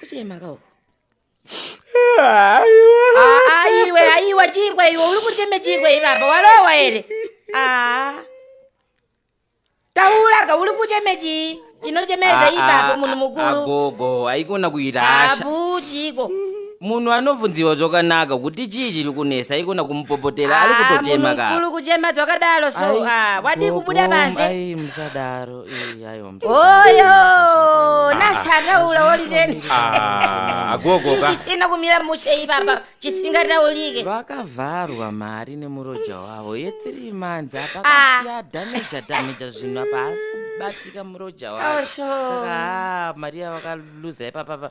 kuchemakawo aiwe aiwa chikwe iwe uri kucheme chikwe ivapa walowa here aa tauraka uri kucheme chii chinochemeza ipapo munhu mukuru agogo haikona kuita hasha avuchiko munhu anobvunziwa zvakanaka kuti chii chiri kunesa ikona kumupopotera ari kutochema ka kulu kuchema zvakadaro so Ai, ah, wadii gogo, kubuda panze ai musadaro eh, aiwa musadaro. oyo nasataula woliteni Ah, agogo ka chisina kumira mushe ipapa chisingataulike vakavharwa mari nemuroja wavo yethree months apa Ah. kasiya dhameja dhameja zvinhu apa haasi kubatika muroja wavo Osho. saka ah, mari yavakaluza ipapapa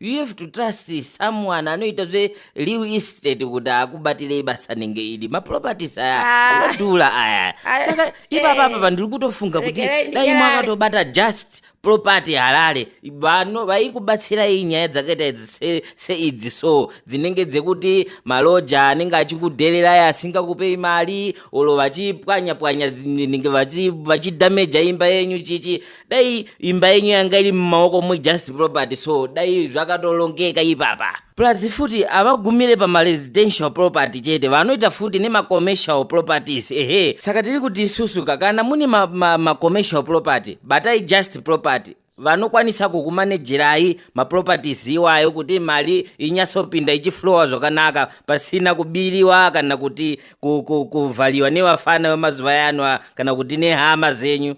you have to trust someone anoita zve real estate kuti akubatirei basa nenge idi maproperties aya Ah. anodhura aya Ah, saka eh. ipapa apa pandiri kutofunga kuti Regerai dai ndinyare. mwakatobata just property harare vano vaikubatsirai nyaya dzakaita idzi se- seidzi so dzinenge dzekuti maloja anenge achikudhererai asingakupei mari olo vachipwanya pwanya dzinenge vachi- vachidhameja imba yenyu chichi dai imba yenyu yanga iri mumaoko mujust property so dai zvakatolongeka ipapa plus futi havagumire pamaresidential property chete vanoita futi nemacommercial properties ehe saka tiri kuti isusu kakana mune macommercial ma, ma property batai just property vanokwanisa kukumanejerai maproperties iwayo kuti mari inyatsopinda ichiflowa zvakanaka pasina kubiriwa kana kuti kuvhariwa nevafana vemazuva yanoa kana kuti nehama zenyu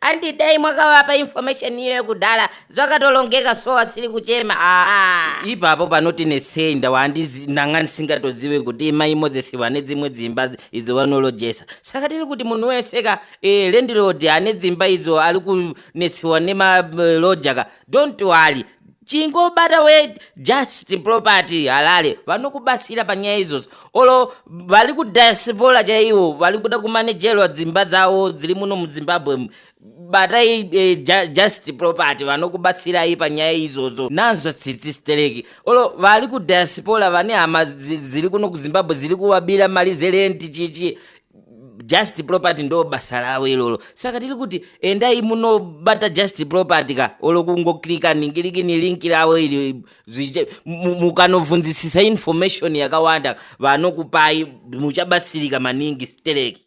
Andi dai mwakavapa information iyoyo kudhara zvakatolongeka so asiri kuchema aa ipapo panoti nesei ndawa handizi ndanga ndisingatozive kuti imai moses vane dzimwe dzimba dzi- idzo vanolojesa saka tiri kuti munhu wese ka eh, landlord ane dzimba idzo ari kunetsiwa nemalodja ka don't worry chingobata we just property halale vanokubatsira panyaya izvozvo olo vari kudiaspora chaivo vari kuda kumanejerwa dzimba dzavo dziri muno muzimbabwe mu- batai e, ja, just property vanokubatsirai panyaya izvozvo nanzwa tsitsi stereki olo vari kudiaspora vane hama dzi- dziri kuno kuzimbabwe dziri kuvabira mari zerenti chichi just property ndo basa ravo ilolo saka tiri kuti endai munobata just property ka olo kungoklika ningiriki nilinki ravo ili mukanovhunzisisa information yakawanda vanokupai muchabatsirika maningi stereki